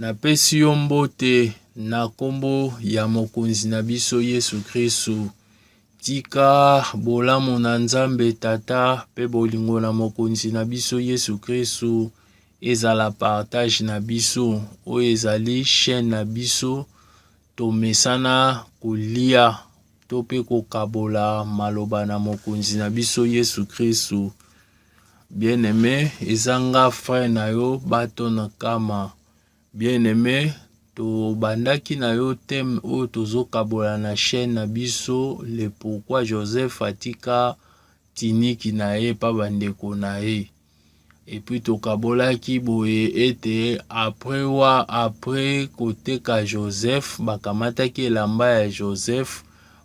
Napesi yo mbote na kombo ya Mokonzi na biso Yesu Kristu. Tika bolamu na Nzambe Tata pe bolingo na Mokonzi na biso Yesu Kristu ezala partage na biso. Oyo ezali chaîne na biso, tomesana kolia to pe kokabola maloba na Mokonzi na biso Yesu Kristu. Bien aime eza nga frère na yo bato na kama. Bien aime tobandaki na yo teme oyo tozokabola na chaîne na biso le pourquoi Joseph atika tiniki na ye pa bandeko na ye epuis tokabolaki boye ete apres wa apres koteka joseph bakamataki elamba ya joseph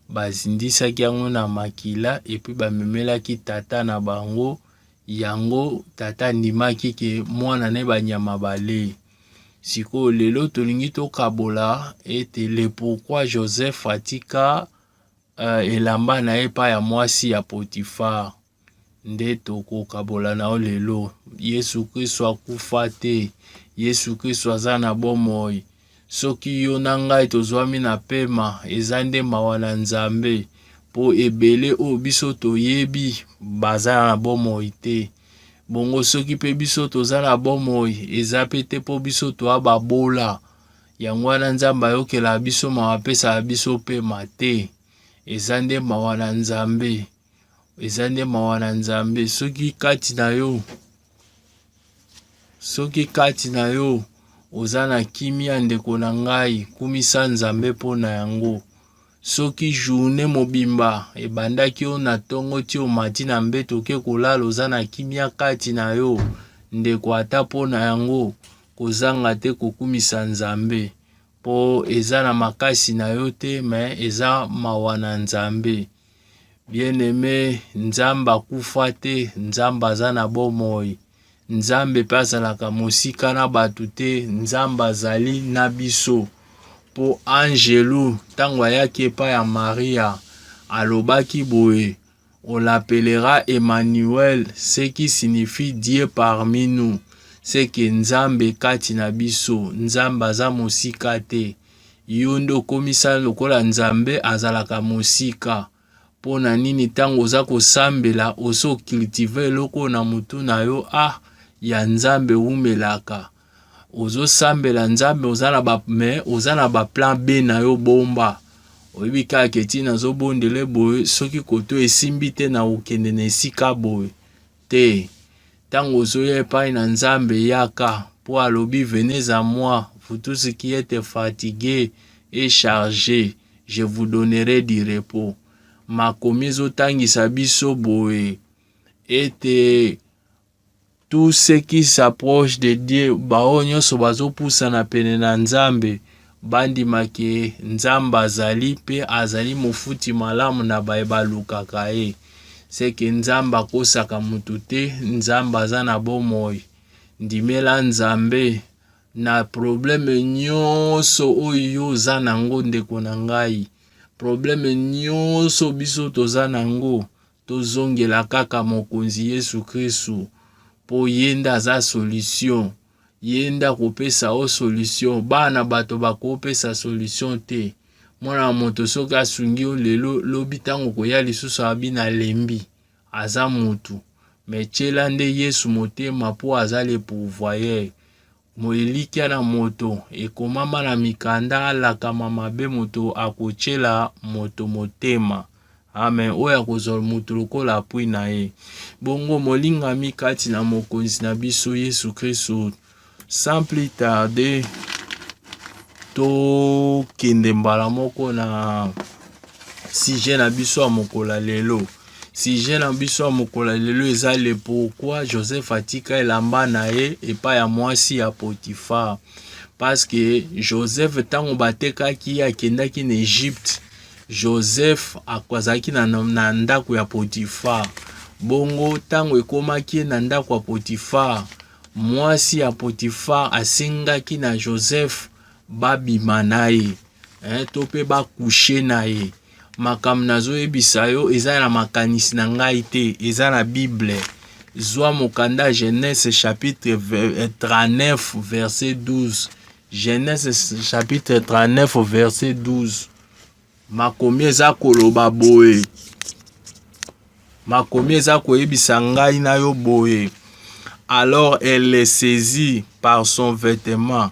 bazindisaki yango na makila epuis bamemelaki tata na bango yango tata andimaki ke mwana na ye banyama balei sikoyo lelo tolingi tokabola ete le pourquoi joseph atika uh, elamba na ye epai ya mwasi ya potifar nde tokokabola na yo lelo. Yesu Kristo akufa te. Yesu Kristo aza na bomoi. Soki yo na ngai tozwami na pema, eza nde mawa na Nzambe, mpo ebele oyo biso toyebi baza na bomoi te. Bongo soki mpe biso toza na bomoi, eza mpe te mpo biso toa babola. Yango wana Nzambe ayokela biso mawa, apesaka biso pema te. Eza nde mawa na Nzambe. eza nde mawa na nzambe soki kati na yo soki kati na yo oza na kimia ndeko na ngai kumisa nzambe mpo na yango soki journe mobimba ebandaki yo na ntongo ti omati na mbeto oke kolala oza na kimia kati na yo ndeko ata mpo na yango kozanga te kokumisa nzambe po eza na makasi na yo te me eza mawa na nzambe bien aime nzambe akufa te nzambe aza na bomoi nzambe mpe azalaka mosika na bato te nzambe azali na biso mpo angelu ntango ayaki epai ya maria alobaki boye On l'appellera Emmanuel, ce qui signifie Dieu parmi nous. C'est que Nzambe kati na biso, Nzambe aza mosika te. Yo nde okomisana lokola Nzambe azalaka mosika. Mpo na nini ntango oza kosambela osi ocultive eloko na motu na yo ah ya Nzambe wumelaka. ozosambela nzambe oza na ba me oza na ba plan b na yo bomba oyebi kaka ke ti nazobondele boye soki koto esimbi te na kokende na esika boye te ntango ozoya epai na nzambe yaka mpo alobi venez à moi vous tous qui êtes fatigués et chargés je vous donnerai du repos makomi ezotangisa biso boye ete Tout ce qui s'approche de Dieu, baoyo nyonso bazopusana pene na Nzambe, bandima ke Nzambe azali mpe azali mofuti malamu na baye balukaka ye. Seke Nzambe akosaka moto te, Nzambe aza na bomoi. Ndimela Nzambe na probleme nyonso oyo oza na yango, ndeko na ngai. Probleme nyonso biso toza na yango, tozongela kaka mokonzi yesu kristu mpo ye nde aza solution ye nde akopesa o solution bana bato bakopesa solution te mwana ya moto soki asungi yo lelo lobi ntango koya lisusu abi nalembi aza mutu me tyela nde yesu motema mpo aza le pourvoyeur Mo elikya na moto ekomama na mikanda alakama mabe moto akotyela moto motema. Amen. Oyo akozwa moto lokola apui na ye. Bongo molingami kati na Mokonzi na biso Yesu Kristo, sans plus tarder, tokende mbala moko na sujet na biso ya mokolo ya lelo. Sujet na biso ya mokolo ya lelo eza le pourquoi Joseph atika elamba na ye epai ya mwasi ya Potiphar. Parce que Joseph ntango batekaki ye akendaki na Egypte, Joseph azalaki na, na ndako ya Potiphar. Bongo ntango ekomaki na ndako ya Potiphar, mwasi ya Potiphar asengaki na Joseph babima na ye. eh, to mpe bakushe na ye makambo nazoyebisa yo eza na makanisi na ngai te eza na bible zwa mokanda genese chapitre 39 eh, verset 12 genese chapitre 39 verset 12 makomi eza koloba boye makomi eza koyebisa ngai na yo boye alors elle le saisit par son vêtement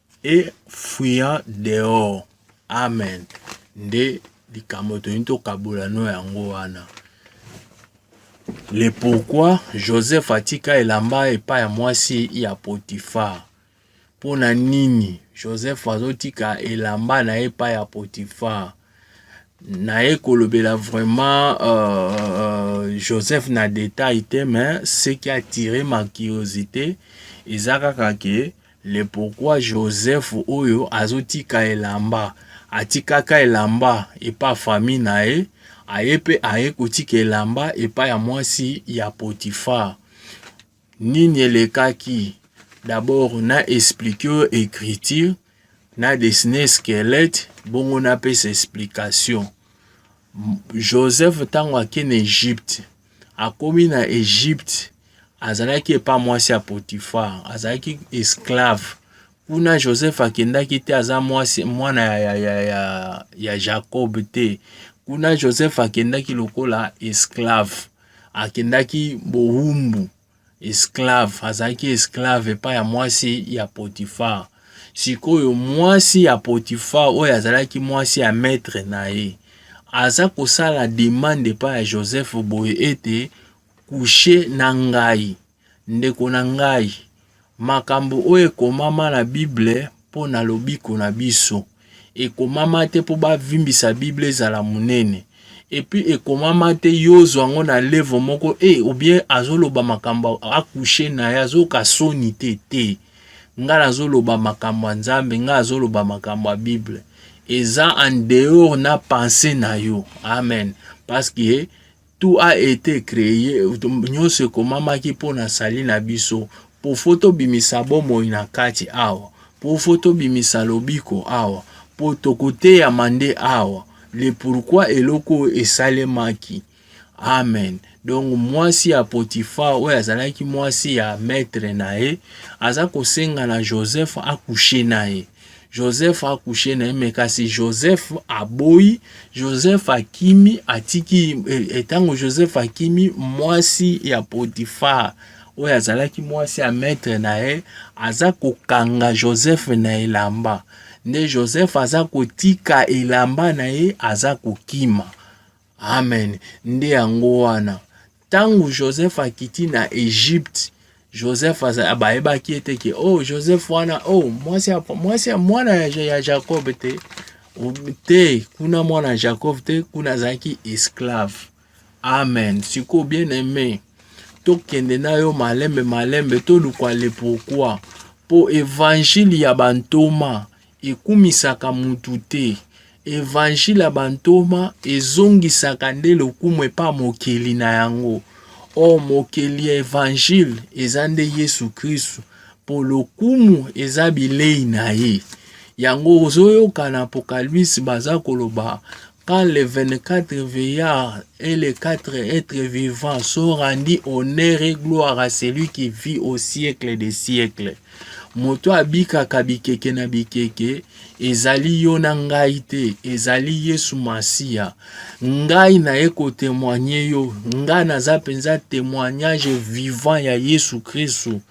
et fuyant dehors amen nde likambo toyini tokabola no yango wana le pourquoi joseph atika elamba epai ya mwasi ya potifar mpo na nini joseph azotika elamba na ye epai ya potifar naye kolobela vraiment euh, euh, joseph na detail te mais ce qui attire ma curiosité eza kaka ke Le pourquoi Joseph oyo azo tika elamba atikaka elamba epa famille na ye aye pe aye kotika elamba epa ya mwasi ya Potiphar nini elekaki d'abord na explique yo écriture na dessiner squelette bongo na pesa explication Joseph ntango ake na Egypte, akomi na Egypte, azalaki epa mwasi ya Potifar, azalaki esclave. Kuna Joseph akendaki te aza mwasi mwana ya, ya, ya, ya, ya Jacob te. Kuna Joseph akendaki lokola esclave, akendaki bowumbu. esclave azalaki esclave epai ya mwasi ya potifar sikoyo mwasi ya potifar oyo azalaki mwasi ya maître na ye aza kosala demande epai ya joseph boye ete kushe na ngai ndeko na ngai Makambo oyo ekomama na Bible mpo na lobiko na biso ekomama te mpo bavimbisa Bible ezala monene epuis ekomama te yo ozwa yango na levo moko e eh, obien azoloba makambo akushe na ye azoyoka soni te te ngai nazoloba makambo ya nzambe ngai azoloba makambo ya bible eza en dehors na pense na yo amen parce que Tout a ete cree, nionso ekomamaki mpo na sali na biso, pofo tobimisa bomoi na kati awa, pofo tobimisa lobiko awa, mpo tokoteyama nde awa, le pourquoi eloko oyo esalemaki. Amen. Donc mwasi ya Potiphar oyo azalaki mwasi ya maître na ye aza kosenga na Joseph akouche na ye. Joseph a couché na mais kasi Joseph aboyi, Joseph akimi atiki etango eh, Joseph akimi mwasi ya Potiphar oyo azalaki mwasi ya maître na ye aza kokanga Joseph na elamba nde Joseph aza kotika elamba na ye aza kokima Amen. Nde yango wana ntango Joseph akiti na Egypte Joseph bayebaki ete ke oh Joseph wana oh mwasi mwasi mwana ya Jacob te te kuna mwana Jacob te kuna azalaki esclave. Amen. Sikoyo bien aime tokende na yo malembe malembe toluka le pourquoi mpo evangile ya bantoma Ekumisaka mutu te. Evangile ya bantoma ezongisaka nde lokumu epa mokeli na yango. Or mokeli ya evangile eza nde Yesu Kristu po lokumu eza bilei na ye. Yango ozoyoka na Apocalypse baza koloba quand les 24 veillards et les quatre êtres vivants sont rendus honneur et gloire à celui qui vit au siècle des siècles. moto abikaka bikeke na bikeke ezali yo na ngai te ezali yesu masiya ngai naye kotemoigne yo ngai naza mpenza temoignage vivant ya yesu kristu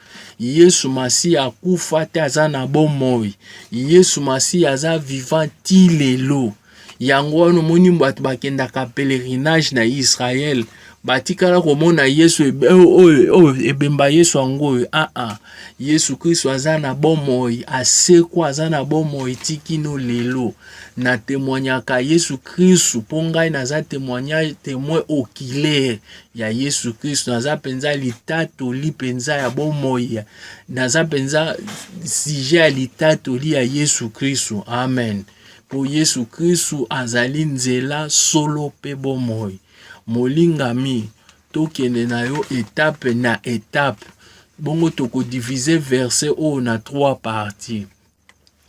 yesu masiya akufa te aza na bomoi yesu masiya aza vivant ti lelo yango wana omoni bato bakendaka pèlerinage na israel batikala komona yesu oyo ebemba yesu yango oyo aa ah, ah. yesu kristo aza na bomoi asekwa aza na bomoi tikino lelo na temoignaka yesu kristo mpo ngai naza temoignage temoin oculaire ya yesu kristo naza mpenza litatoli mpenza ya bomoi naza mpenza sujet ya litatoli ya yesu kristo amen mpo Yesu Kristu azali nzela, solo mpe bomoi. Molingami, tokende na yo etape na etape. Bongo tokodivize verse oyo na trois parties.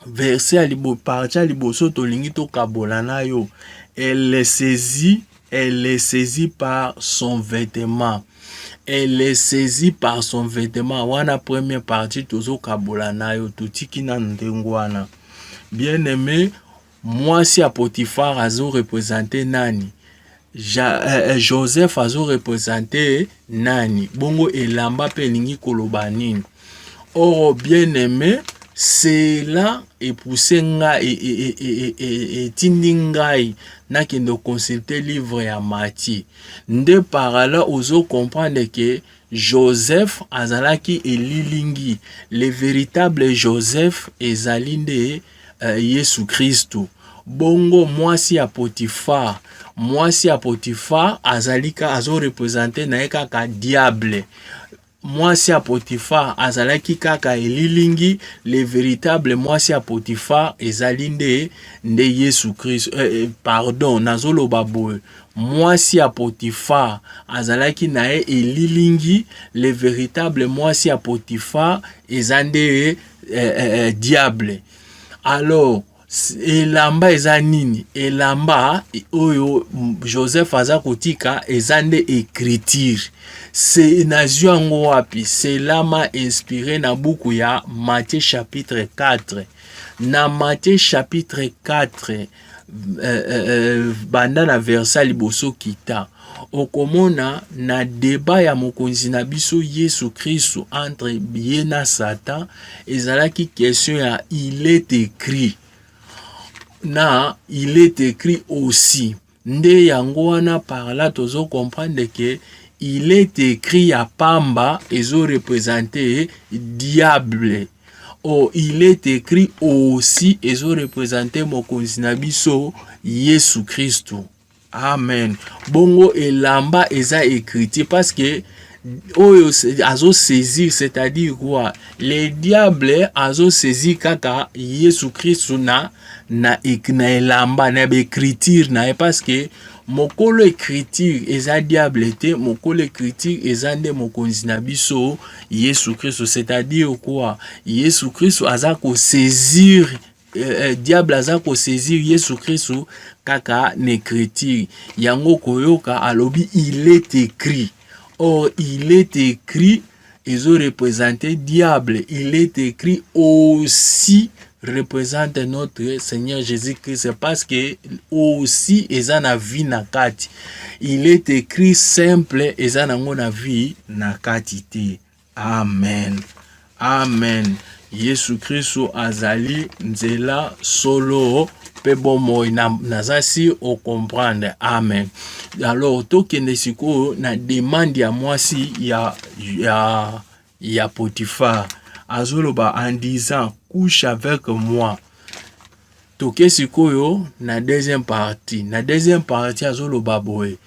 Verse ya libo, partie ya liboso tolingi tokabola na yo elle saisit Elle est saisie par son vêtement. Elle est saisie par son vêtement. Wana première partie tozo kabola nayo totiki na ndengwana. Bien aimé, moi si à Potiphar azo représenter nani? Ja, eh, eh, Joseph azo représenter nani? Bongo elamba pe elingi koloba nini? Oh bien aime cela epousse nga e, e, e, etindi ngai nakende oconsulte livre ya Matthieu nde parala ozo comprendre ke Joseph azalaki elilingi le véritable Joseph ezali nde uh, Yesu Kristu bongo mwasi ya Potifar mwasi ya Potifar azalika azo represente na ye kaka diable Mwasi ya Potifar azalaki kaka elilingi, le veritable mwasi ya Potifar ezali nde nde Yesu Kristo. Eh, eh, pardon, nazoloba boye mwasi ya Potifar azalaki na ye elilingi, le veritable mwasi ya Potifar eza nde eh, eh, eh, diable. Alors elamba eza nini elamba oyo joseph aza kotika eza nde écriture se nazwi yango wapi selama inspiré na buku ya matthieu chapitre 4 na matthieu chapitre 4 euh, euh, euh, banda na versa liboso kita Okomona na deba ya mokonzi na biso Yesu Kristo entre ye na Satan ezalaki question ya il est écrit na il est écrit aussi nde yango wana par là tozo comprendre que il est écrit ya pamba ezo représenter diable oh, il est écrit aussi ezo représenter mokonzi na biso Yesu Kristo Amen. Bongo elamba eza ecriture parce que oyo azo saisir c'est-à-dire quoi le diable azo saisir kaka Yesu Kristu na na, na elamba na baecriture na ye parce que mokolo ecriture eza diable te mokolo ecriture eza nde mokonzi na biso Yesu Kristu c'est-à-dire quoi Yesu Kristu aza kosaisir eh, eh, diable aza kosaisir yesu kristu kaka na écriture yango koyoka alobi il est écrit or il est écrit ezo représente diable il est écrit aussi représente notre Seigneur Jésus-Christ parce que aussi eza na vie na kati. Il est écrit simple eza nango na vie na kati te. Amen. Amen. Yesu Kristo azali nzela solo mpe bomoi naza si ocomprendre amen alors tokende sikoyo na demande ya mwasi ya, ya, ya potifar azoloba en disant couche avec moi toke sikoyo na deuxième partie na deuxième partie azoloba boye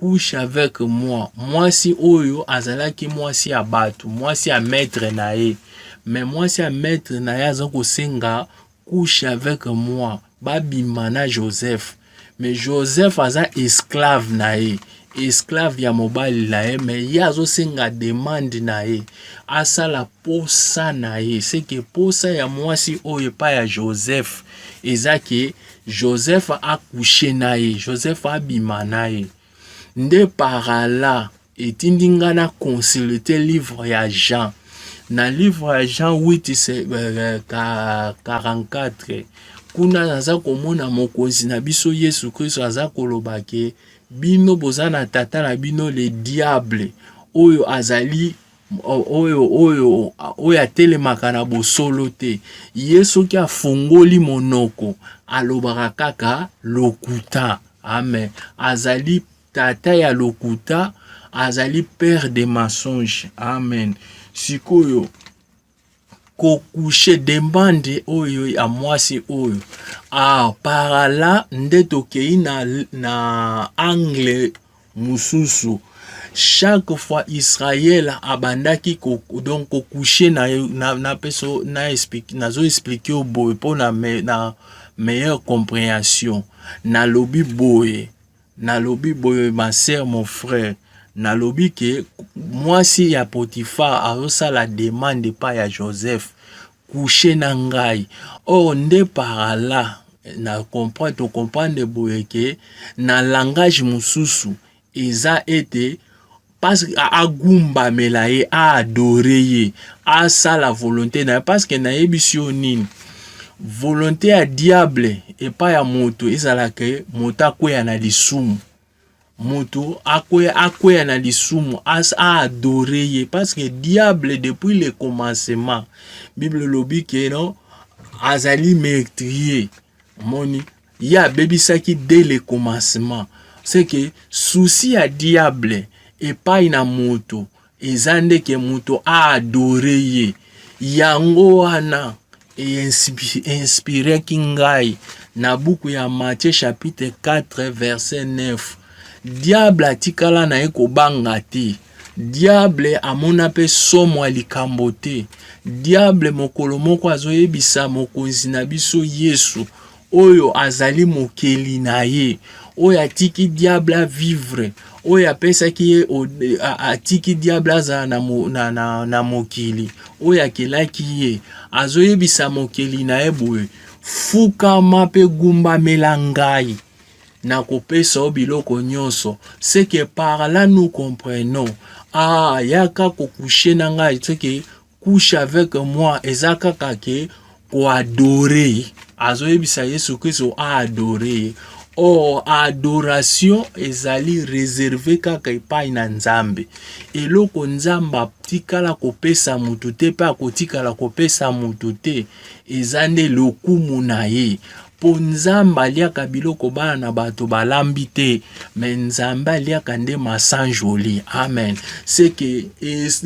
couche avec moi mwasi oyo azalaki mwasi ya bato mwasi ya maître na ye mais mwasi ya maître na ye aza kosenga couche avec moi babima na joseph mais joseph aza esclave na ye esclave ya mobali na ye mais ye azosenga demande na ye asala posa na ye seke posa ya mwasi oyo epai ya joseph eza ke Joseph a coucher na ye, Joseph abima na ye. Nde par Allah etindi nga na consulter livre ya Jean. Na livre ya Jean 8 44 euh, kuna naza komona mokonzi na biso Yesu Kristo aza koloba ke bino boza na tata na bino le diable oyo azali oyo oyo oyo atelemaka na bosolo te ye soki afongoli monoko alobaka kaka lokuta amen azali tata ya lokuta azali père de mensonge amen sikoyo kokushe demande oyo ya mwasi oyo ah, parala nde tokei na, na angle mosusu chaque fois israel abandaki ko, donc kokushe na, na, na, peso, na explique, nazo explike yo boye mpo na, me, na meilleure comprehension nalobi boye Nalobi boye ma sœur mon frère nalobi ke mwasi ya Potiphar azosala demande pa ya Joseph couche na ngai or nde parala na comprendre to comprendre boye ke na langage mosusu eza ete parce que agumbamela ye aadore ye asala volonté na ye parce que nayebisi yo nini volonté ya diable epai ya moto ezalaka moto akweya na lisumu moto akweya, akweya na lisumu as aadore ye parce que diable depuis le commencement bible elobi ke no azali metrier omoni ye abebisaki dès le commencement c'est que souci ya diable epai na moto eza nde ke moto a adore ye yango wana einspiraki ngai na buku ya Matthieu chapitre 4 verset 9 diable atikala na ye kobanga te Diable amona mpe somo ya likambo te. Diable mokolo moko azoyebisa mokonzi na biso Yesu oyo azali mokeli na ye oyo atiki diable avivre oyo apesaki ye atiki diable azala na, na, na, na mokili oyo akelaki ye azoyebisa mokeli na ye boye fukama mpe gumbamela ngai nakopesa yo biloko nyonso seke par là nous comprenons ah yaka kokushe na ngai seke couche avec moi eza kaka ke koadore azoyebisa yesu kristo aadore ye or adoration ezali reserve kaka epai na nzambe eloko nzambe atikala kopesa moto te mpe akotikala kopesa moto te eza nde lokumu na ye Po nzambe aliaka biloko bana na bato balambi te mais nzambe aliaka nde masanjoli amen ce que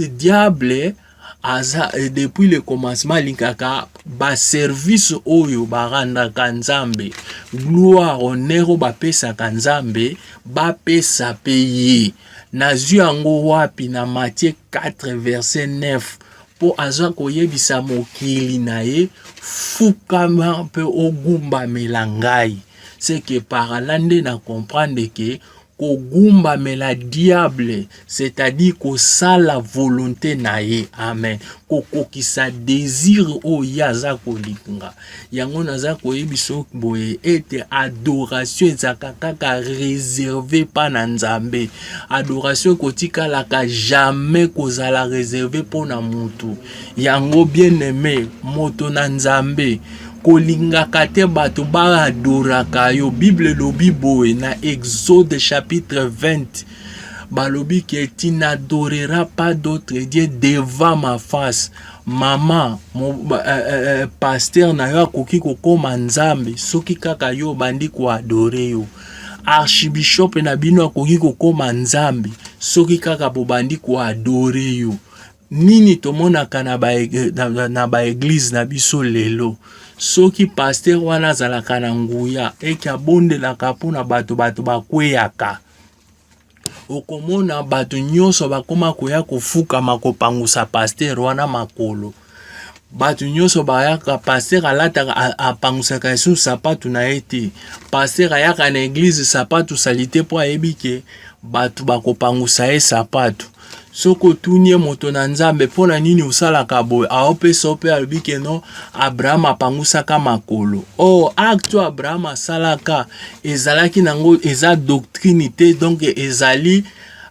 diable aza depuis le commencement alingaka ba service oyo barandaka nzambe gloire honneur oyo bapesaka nzambe bapesa pe ye nazwi yango wapi na matie 4 verset 9 mpo aza koyebisa mokili na ye fukama mpe ogumbamela ngai seke parala nde na comprendre ke kogumbamela diable c'est-à-dire kosala volonté na ye amen kokokisa desire oyo ye aza kolinga yango naza koyebisa boye ete adoration ezalaka kaka reserve mpa na nzambe adoration ekotikalaka jamais kozala reserve mpo na motu yango bien aime moto na nzambe kolingaka te bato baadoraka yo bible elobi boye na exode chapitre 20 balobi ke tu n'adoreras pas d'autre dieu devant ma face Mama, mo, ba, eh, eh, eh, eh pasteur na yo akoki kokoma nzambe soki kaka yo obandi koadore yo. Archibishop na bino akoki kokoma nzambe soki kaka bobandi koadore yo. Nini tomonaka na ba, eh, na, na, na ba eglise na biso lelo? soki paster wana azalaka na nguya eke abondelaka mpo na bato bato bakweyaka okomona bato nyonso bakoma koya kofukama kopangusa pastere wana makolo bato nyonso bayaka pastere alataka apangusaka lisusu sapatu na ye te pastere ayaka na eglize sapatu salite mpo ayebi ke bato bakopangusa ye sapatu soki otuni ye moto na nzambe mpo na nini osalaka boye aopesa yo mpe alobi ke no abraham apangusaka makolo o oh, acte oyo abraham asalaka ezalaki nango eza doctrine te donc ezali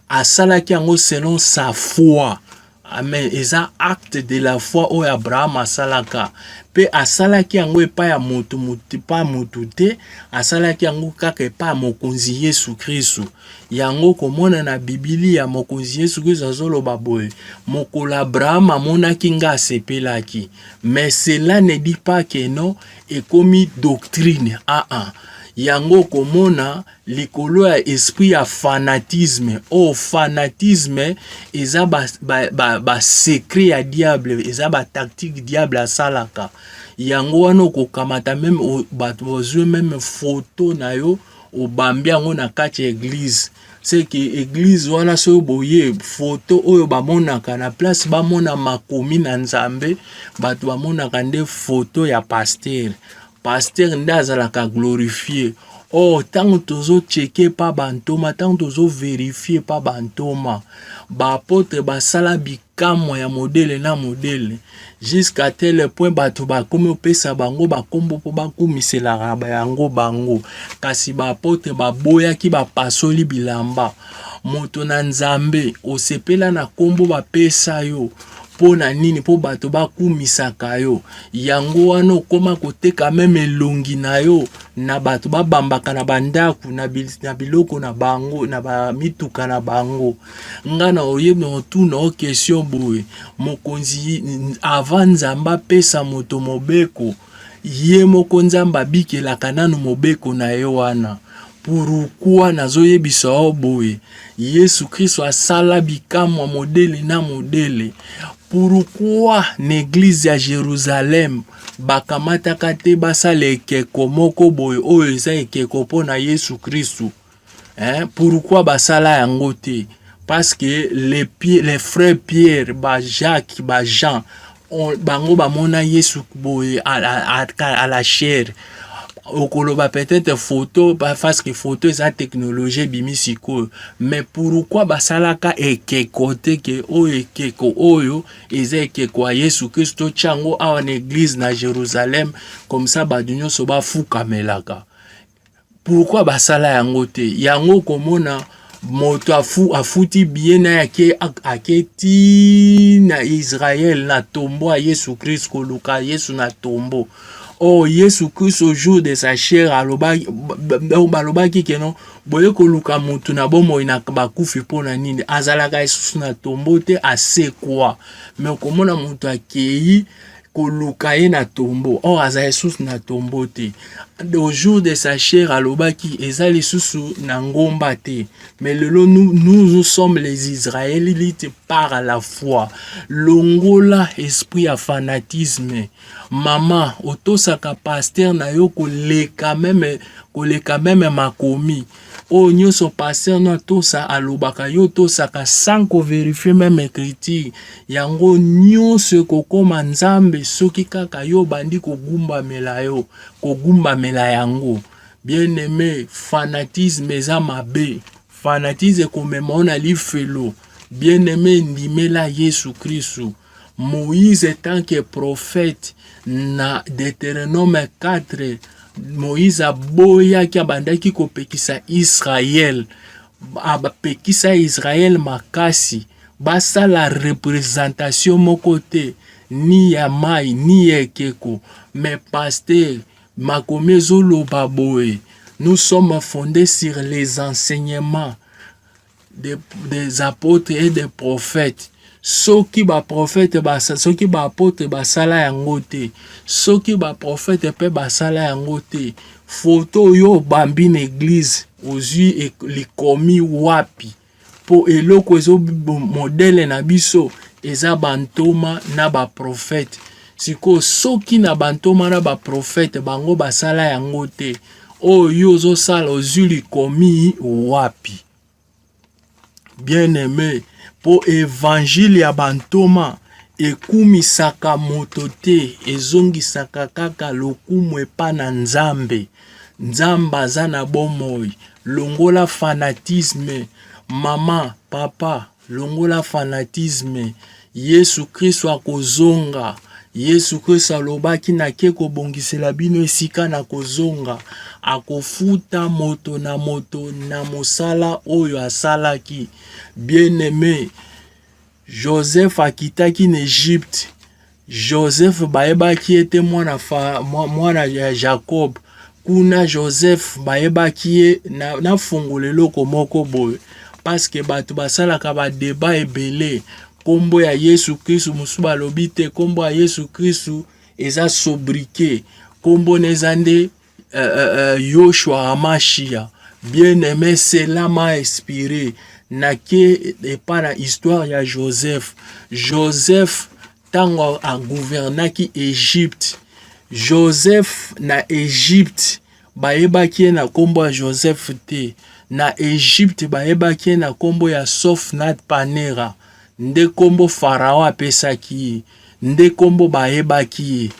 asalaki yango selon sa foi amen eza acte de la foi oyo abraham asalaka mpe asalaki yango epai ya motu epai motu te asalaki yango kaka epai ya mokonzi yesu kristu Yango komona na Bibilia Mokonzi Yesu Kristo azoloba boye, mokolo Abraham amonaki nga asepelaki. Mais cela ne dit pas que non ekomi doctrine. Ah ah. Yango komona likolo ya esprit ya fanatisme. Oh fanatisme eza ba, ba, ba, ba secret ya diable, eza ba tactique diable asalaka. Yango wana okokamata meme bato bazwe meme photo na yo obambi yango na kati ya eglize seke eglize wana soki boye foto oyo bamonaka na place bamona makomi na nzambe bato bamonaka nde foto ya pastere pastere nde azalaka glorifie or oh, ntango tozotsheke mpa bantoma ntango tozoverifie mpa bantoma baapotre basala bik bikamwa ya modele na modele jusqu'à tel point bato bakomi opesa bango bakombo mpo bakumiselaka yango bango kasi baapotre baboyaki bapasoli bilamba moto na nzambe osepela na kombo bapesa yo mpo na nini mpo bato bakumisaka yo yango wana okoma koteka meme elongi na yo na bato babambaka na bandako na biloko na bango na bamituka na bango nga na oye motuna o question boye mokonzi avant nzambe apesa moto mobeko ye moko nzambe abikelaka nanu mobeko na ye wana pourukua nazoyebisa yo boye yesu kristo asala bikamwa modele na modele pourukua na eglize ya jerusalem bakamataka te basala ekeko moko boye oyo eza ekeko mpo na yesu kristo hein? pourquoi basala yango te parce que les, pieds, les frères pierre ba jacques ba jean on, bango bamona yesu boye à, à, à, à la chair okoloba peut-être photo parce que photo eza technologie ebimi sikoyo mais pourquoi basalaka ekeko te ke oyo ekeko oyo eza ekeko ya yesu kristo tya yango awa na eglise na jérusalem comme ça bato nyonso bafukamelaka pourquoi basala yango te yango komona moto afu, afuti biye na yake ake ti na israel na tombo ya yesu krist koluka yesu na tombo oyo oh, yesu krist au jour de sa chair alobaki balobaki keno boye koluka motu na bomoi na bakufi mpo na nini azalaka lisusu na tombo te asekwa me okomona moto akei koluka ye na tombo or aza lisusu na tombo te au jour de sa chair alobaki eza lisusu na ngomba te mais lelo nous, nous, nous sommes les israélites par la foi longola esprit ya fanatisme mama otosaka paster na yo koleka meme koleka meme makomi oyo nyonso pasteur no atosa alobaka yo tosaka sans ko verifier meme écriture yango nyonso ekokoma nzambe soki kaka yo obandi kogumbamela yo kogumbamela yango bien aime fanatisme eza mabe fanatisme ekomema yo na lifelo bien aime ndimela yesu kristu Moïse tant que prophète na Deuteronome 4 Moïse aboyaki abandaki kopekisa Israël apekisa Israël makasi basala représentation moko te ni ya mai ni ya ekeko mais pasteur makomi ezoloba boye nous sommes fondés sur les enseignements des, des apôtres et des prophètes soki baprofete soki baapotre basala yango te soki baprofete mpe basala yango te foto oyo obambi na eglize ozwi e, likomi wapi mpo eloko ezo modele na biso eza bantoma na baprofete sikoyo soki na bantoma na baprofete bango basala yango te oyo yo ozosala ozwi likomi wapi bien aime mpo evangile ya bantoma ekumisaka moto te ezongisaka kaka lokumu epa na nzambe nzambe aza na bomoi longola fanatisme mama papa Longola fanatisme, Yesu Kristo akozonga. Yesu Kristo alobaki, nake kobongisela bino esika na kozonga. Akofuta moto na moto na mosala oyo asalaki. Bien-aime, Joseph akitaki na Egypte, Joseph bayebaki ye te mwana, fa, mwana ya Jacob kuna Joseph bayebaki ye na, na fungola eloko moko boye paske bato basalaka badeba ebele nkombo ya Yesu Kristu mosusu balobi te nkombo ya Yesu Kristu eza sobriquet nkombo na eza nde uh, uh, uh, Yoshua Hamashia bien aimé cela m'a inspiré nake epa na histoire ya Joseph Joseph ntango agouvernaki Egypte Joseph na Egypte bayebaki ye na nkombo ya Joseph te na Egypte bayebaki ye na nkombo ya Sofnat Panera nde nkombo Farao apesaki ye nde nkombo bayebaki ye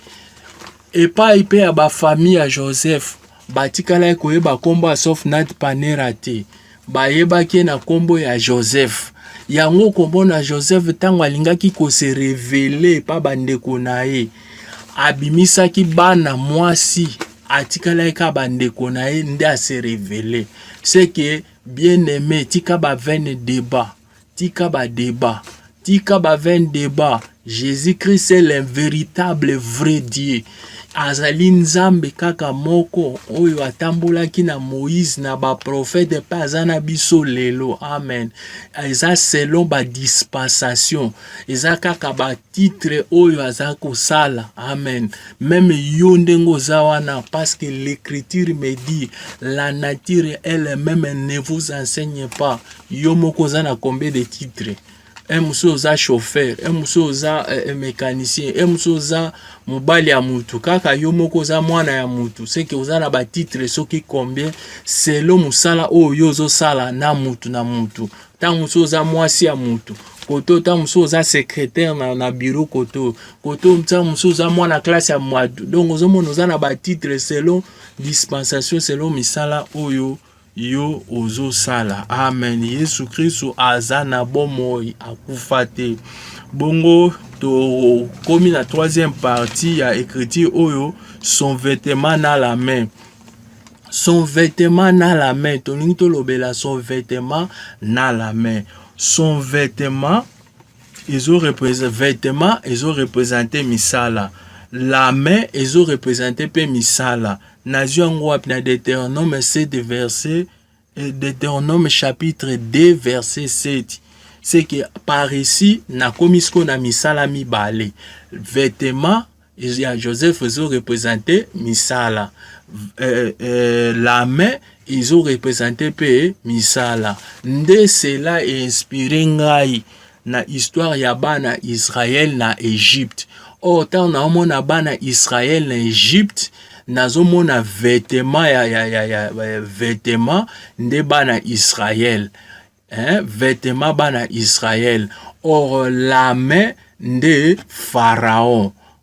Epai mpe ya ba famille ya Joseph batikalaki koyeba nkombo ya Sofnat Panera te, bayebaki ye na nkombo ya Joseph. Yango okomona Joseph ntango alingaki kose revele epa bandeko na ye, abimisaki bana mwasi atikalaki kaka bandeko na ye nde ase revele seke bien aime tika ba vaine debat Tika ba debat. Tika ba vain debat. Jésus-Christ est le véritable vrai Dieu. Azali Nzambe kaka moko oyo atambolaki na Moïse na ba prophète pe aza na biso lelo. Amen. Eza selon ba dispensation. Eza kaka ba titre oyo aza kosala. Amen. Même yo ndenge oza wana parce que l'écriture me dit la nature elle même ne vous enseigne pas. yo moko oza na combien de titre un mosusu oza chauffeur un mosusu oza eh, eh, mécanicien un mosusu oza mobali ya mutu kaka yo moko oza mwana ya mutu seke oza na batitre soki combien selo mosala oyo yo ozosala na mutu na mutu ntango mosusu oza mwasi ya mutu koto ntango mosusu oza secrétaire na, na bureau koto koto ntango mosusu oza mwana classe ya mwadu donc ozomona oza na batitre selon dispensation selon misala oyo yo ozo sala amen yesu kristu aza na bomoi akufa te bongo tokomi na troisième partie ya écriture oyo son vêtement na la main son vêtement na la main tolingi tolobela son vêtement na la main son vêtement ezo représente vêtement ezo représente misala la main ezo représente mpe misala Nazwi yango wapi? Na Deuteronome 7 verset eh, Deuteronome chapitre 2 verset 7 c'est que par ici nakomi sikoyo na misala mibale vetema ya joseph ezo represente misala euh, euh, la main ezo represente mpe misala nde cela einspire ngai na histoire ya bana Israël na Egypte. Or ntango naomona bana Israël na Egypte, nazomona vetema ya, ya, ya, ya, ya vetema nde bana Israël hein? vetema bana Israël or lame nde Pharaon.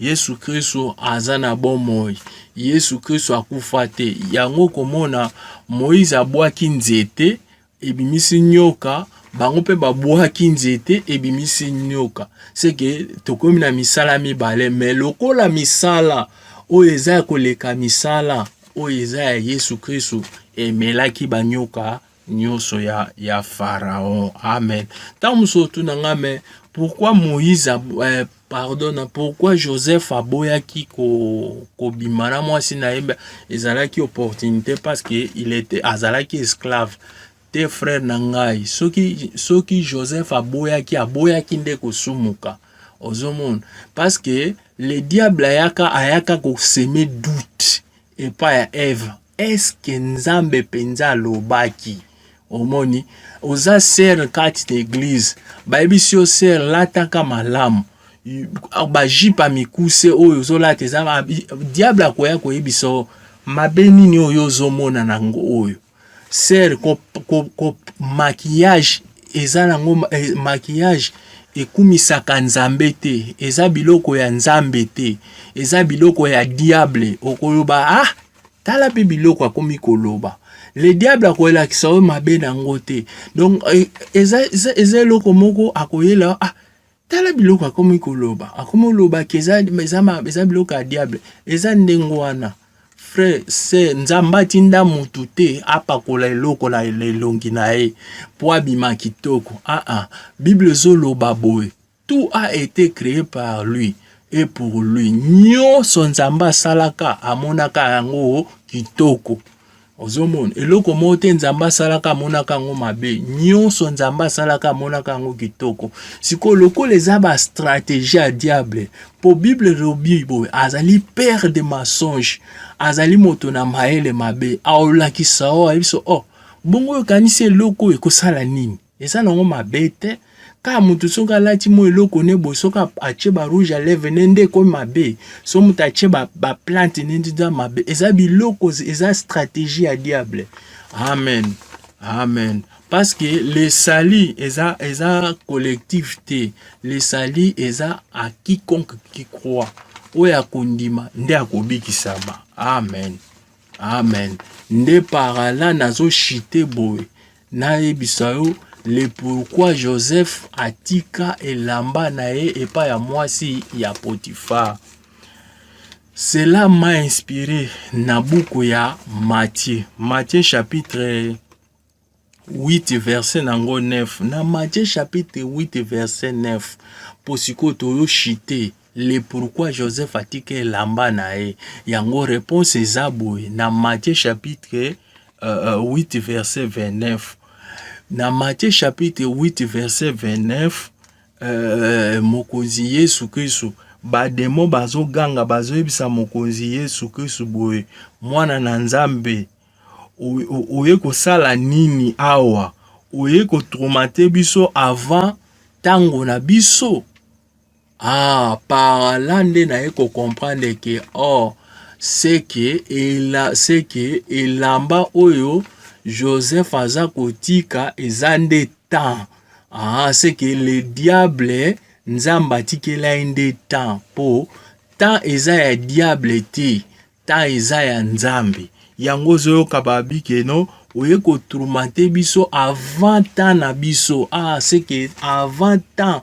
Yesu Kristo aza na bomoi. Yesu Kristo akufa te. Yango komona Moïse abwaki nzete ebimisi nyoka, bango mpe babwaki nzete ebimisi nyoka. Seke tokomi na misala mibale, me lokola misala oyo eza ya koleka misala oyo eza ya Yesu Kristo emelaki banyoka nyonso ya, ya Pharaon. Amen. Ntango mosusu otuna nga me pourquoi Moïse eh, pardon na pourquoi Joseph aboyaki ko kobima na mwasi na ye ezalaki opportunité parce que il était azalaki esclave te frère na ngai soki soki Joseph aboyaki aboyaki nde kosumuka ozomona parce que le diable ayaka ayaka koseme doute epai ya Eve, eske Nzambe mpenza alobaki? Omoni, oza sere kati na eglize, bayebisi yo sere, lataka malamu bajipe ya mikuse oyo ozolata eza diable akoya koyebisa mabe nini oyo ozomona nango oyo Sœur ko, ko, ko maquillage eza nango eh, maquillage ekumisaka nzambe te eza biloko ya nzambe te eza biloko ya diable okoloba ah tala mpe biloko akomi koloba le diable akolakisa yo mabe na yango te donc eh, eza, eza, eza eloko moko akoyela ah Tala biloko akomi koloba, akomi koloba ke eza, eza, eza biloko ya diable. Eza ndenge wana frère se nzambe atinda mutu te apakola eloko na elongi na ye mpo abima kitoko aa ah, ah. bible ezoloba boye tout a été créé par lui et pour lui nyonso nzambe asalaka amonaka yango kitoko ozomona eloko moko te nzambe asalaka amonaka yango mabe nyonso nzambe asalaka amonaka yango kitoko sikoyo lokola eza bastratégie ya diable mpo bible elobi boye azali père de mensonge azali moto na mayele mabe aolakisa o ayebisa o oh, bongo okanisi eloko oyo ekosala nini eza nango mabe te kaka moto soki alati mwa eloko ne boye soki atie ba rouge à lèvre ne nde ekomi mabe so moto atie baplante ne nde eza mabe eza biloko eza stratégie ya diable amen amen parce que le sali eza eza collectif te le sali eza à quiconque qui croit oyo akondima nde akobikisama amen Amen. Nde parala nazo chite boye nayebisa yo le pourquoi Joseph atika elamba na ye epai ya mwasi ya Potiphar. Cela m'a inspiré na buku ya Matthieu. Matthieu chapitre 8 verset na ngo 9 na Matthieu chapitre 8 verset 9 mpo sikoyo toyo chite le pourquoi Joseph atika elamba na ye yango réponse eza boye na Matthieu chapitre euh, 8 euh, verset 29 na Matthieu chapitre 8 verset 29 euh, mokonzi Yesu Kristo bademo bazoganga bazoyebisa mokonzi Yesu Kristo boye mwana na Nzambe oye kosala nini awa oye kotraumate biso avant ntango na biso ah, par là nde naye kocomprendre ke or oh, seke ela, seke elamba oyo joseph aza kotika eza nde temps ah, seke le diable nzambe atikela ye nde temps mpo temps eza ya diable te temps eza ya nzambe yango ozoyoka babi keno oye kotroumante biso avant temps na biso ah, seke avant temps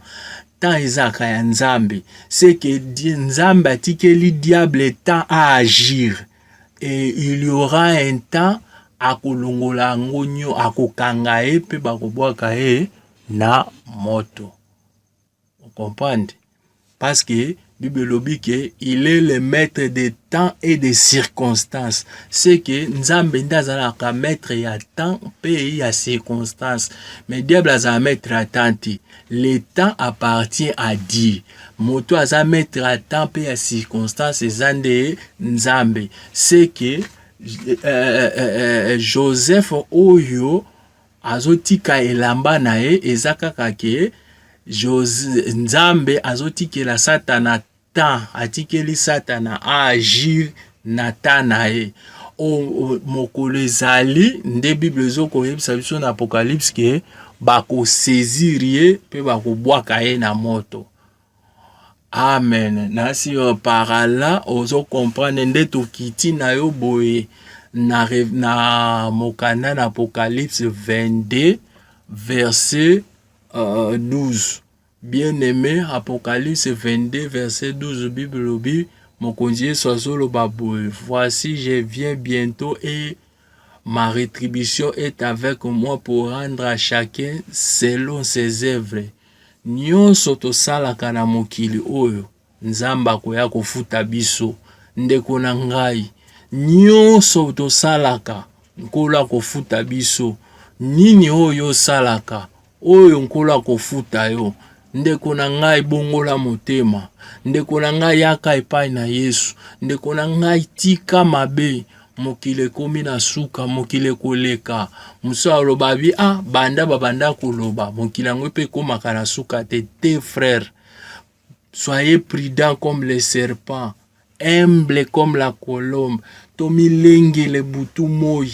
temps ezalaka ya nzambe seke nzambe atikeli diable temps aagir et il y aura un temps akolongola yango nyo akokanga ye mpe bakobwaka ye na moto Vous comprenez? Parce que Bible elobi que il est le maître des temps et des circonstances. C'est que Nzambe nde azalaka maître ya temps mpe ya circonstance. Mais diable azala maître ya temps te. Le temps appartient à Dieu. Moto aza maître ya temps mpe ya circonstance eza nde Nzambe. C'est que euh, euh, euh, Joseph oyo Azotika elamba na ye eza kaka ke Jose Nzambe azotikela Satana temps, atikeli Satana agir na temps na ye. O, o, mokolo ezali nde Bible ezokoyebisa biso na Apocalypse ke bakosezir ye mpe bakobwaka ye na moto. amen nasi yo parala ozo comprendre nde tokiti na yo boye na, na mokanda na apocalypse 22 verset uh, 12 bien aimé apocalypse 22 verset 12 bible lobi mokonzi yesu azoloba boye voici je viens bientôt et Ma retribution est avec moi pour rendre à chacun selon ses œuvres. Nyonso tosalaka na mokili oyo Nzambe akoya kofuta biso. Ndeko na ngai, nyonso tosalaka Nkolo akofuta biso. Nini oyo osalaka? Oyo nkolo akofuta yo. Ndeko na ngai bongola motema. Ndeko na ngai yaka epai na Yesu. Ndeko na ngai tika mabe. Mokili ekomi na suka, mokili ekoleka. Mosusu aloba bi ah banda babanda koloba mokili yango mpe ekomaka na suka te te frère. soyez prudent comme le serpent humble comme la colombe tomilengele butu moi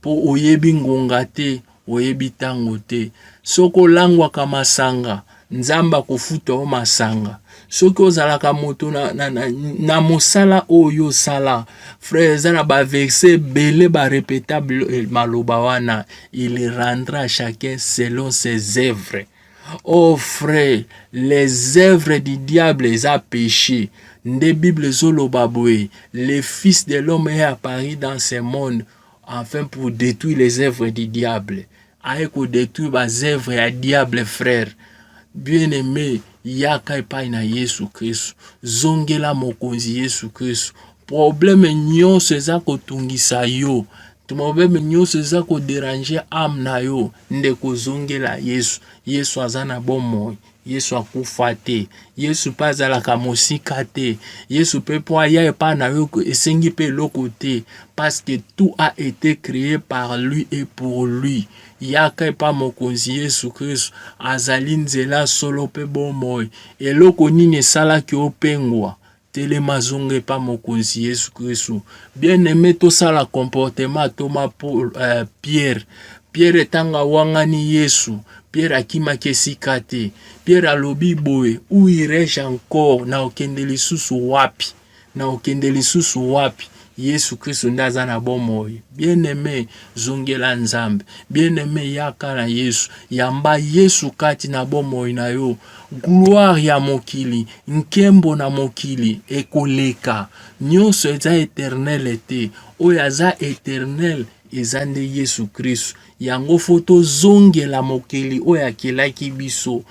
mpo oyebi ngonga te oyebi ntango te soki olangwaka masanga nzambe akofuta yo masanga soki ozalaka moto na, na, na, na mosala oyo osala frère eza na baverse ebele barepetable maloba wana il rendra chacun selon ses œuvres Oh frère, les œuvres du diable eza péché. Nde Bible ezoloba boye, le fils de l'homme est apparu dans ce monde afin pour détruire les œuvres du diable. Aye ko détruire ba œuvres ya diable frère. Bien aimé, yaka epai na Yesu Kristo. Zongela mokonzi Yesu Kristo. Problème nyonso eza kotungisa yo to problème nyonso eza ko déranger âme na yo ndeko zongela yesu yesu aza na bomoi yesu akufa te yesu mpe azalaka mosika te yesu mpe mpo aya epai na yo esengi mpe eloko te parce que tout a été créé par lui et pour lui yaka epai mokonzi yesu kristu azali nzela solo mpe bomoi eloko nini esalaki opengwa Telema zonga epa mokonzi Yesu Kristu. Bien aime tosala comportement toma Paul, uh, Pierre. Pierre ntango awangani Yesu, Pierre akimaki esika te. Pierre alobi boye, où irai-je encore? Naokende lisusu wapi? Naokende lisusu wapi? Yesu Kristo nde aza na bomoi. Bien-aime, zongela Nzambe. Bien-aime, yaka na Yesu. Yamba Yesu kati na bomoi na yo. Gloire ya mokili, nkembo na mokili ekoleka. Nyonso eza eternele te. Oyo aza eternele eza nde Yesu Kristo. Yango fo tozongela mokeli oyo akelaki biso.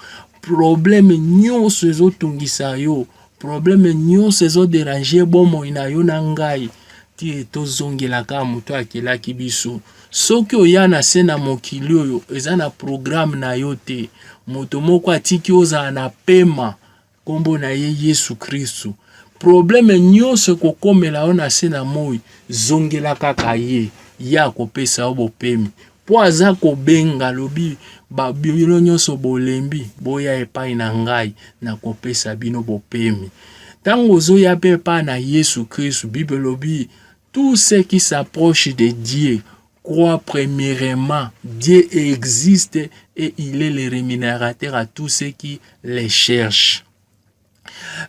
Probleme nyonso ezotungisa yo Probleme nyonso ezo deranger bomoi na yo na ngai ti tozongelaka moto akelaki biso. Soki oya na se na mokili oyo eza na programe na yo te, moto moko atiki ozala na pema, nkombo na ye Yesu Kristu. Probleme nyonso ekokomela yo na se na moi, zongela kaka ye, ye akopesa yo bopemi. Mpo aza kobenga lobi ba bino nyonso bolembi boya epai na ngai na kopesa bino bopemi. Ntango ozoya mpe epai na Yesu Kristu, Bible elobi tout ce qui s'approche de Dieu croit premièrement Dieu existe et il est le rémunérateur à tous ceux qui les cherchent.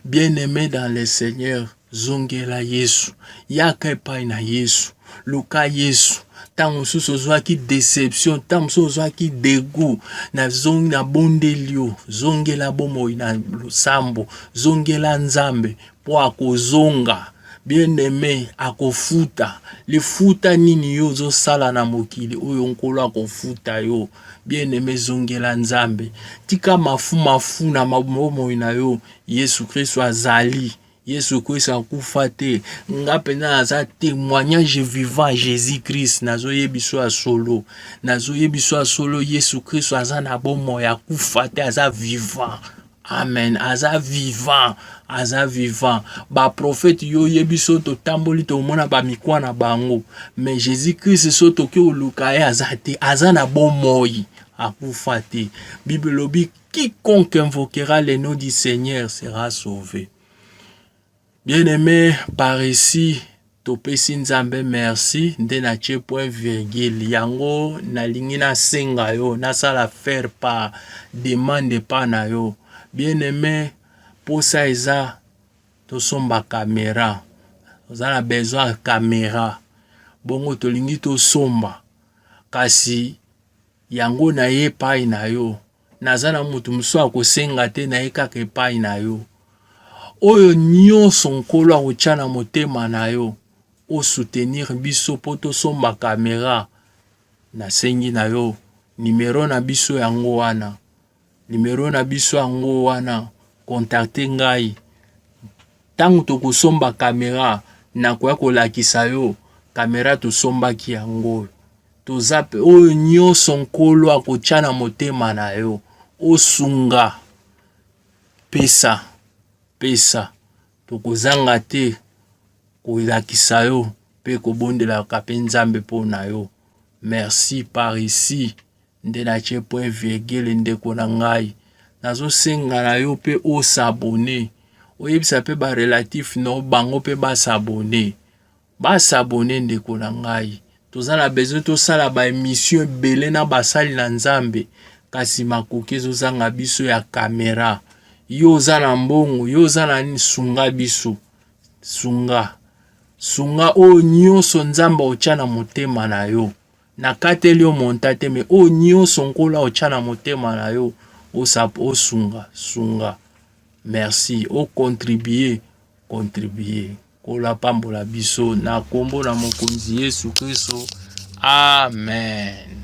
Bien-aime dans le Seigneur, zongela Yesu, yaka epai na Yesu, luka Yesu. Ntango mosusu ozwaki deception, ntango mosusu ozwaki degu, nazongi na bondeli yo, zongela bomoi na losambo, zongela Nzambe mpo akozonga bien-aime akofuta lifuta nini yo ozosala na mokili oyo nkolo akofuta yo Bien aime zongela Nzambe. Tika mafu mafu na bomoi na yo. Yesu Kristo azali. Yesu okoyisa akufa te. Nga mpenza naza témoignage vivant Jésus Christ. Nazoyebisa ya solo. Nazoyebisa ya solo Yesu Kristo aza na bomoi akufa te, aza vivant. amen aza vivant aza vivant baprofete yo oyebi so totamboli tomona bamikwa na bango mais jésus christ so toki oluka ye aza te aza na bomoi akufa te bible elobi quiconque invoquera le nom du seigneur sera sauvé Bien aime par ici topesi nzambe merci nde na tie point virgule yango nalingi nasenga yo nasala faire par demande epa na yo bien aime mposa eza tosomba kamera oza na besoin ya kamera bongo tolingi tosomba kasi yango na ye epai na yo naza na moto mosusu ya kosenga te na ye kaka epai na yo oyo nyonso nkolo akotya na motema na yo osoutenir biso mpo tosomba kamera nasengi na yo nimero na biso yango wana nimero na biso yango wana kontakte ngai ntango tokosomba kamera nakoya kolakisa yo kamera tosombaki yango oyo Toza pe oyo nyoso nkolo akotya na motema na yo osunga pesa pesa tokozanga te kolakisa yo mpe kobondelaka mpe nzambe mpo na yo merci par ici nde natye point virgule ndeko na ngai nazosenga na yo mpe osabone oyebisa mpe barelatif no bango mpe basabone Ba s'abonner ndeko na ngai. Toza na besoin tosala ba emission ebele na basali na Nzambe kasi makoki ezozanga biso ya kamera. Yo oza na mbongo, yo oza na nini? Sunga biso, sunga sunga oyo nyonso Nzambe otya na motema na yo. Nakateli yo monta te, me oyo nyonso Nkolo otya na motema na yo osap osunga sunga. Merci, okontribue kontribue. Nkolo apambola biso na kombo na Mokonzi Yesu Kristo. Amen.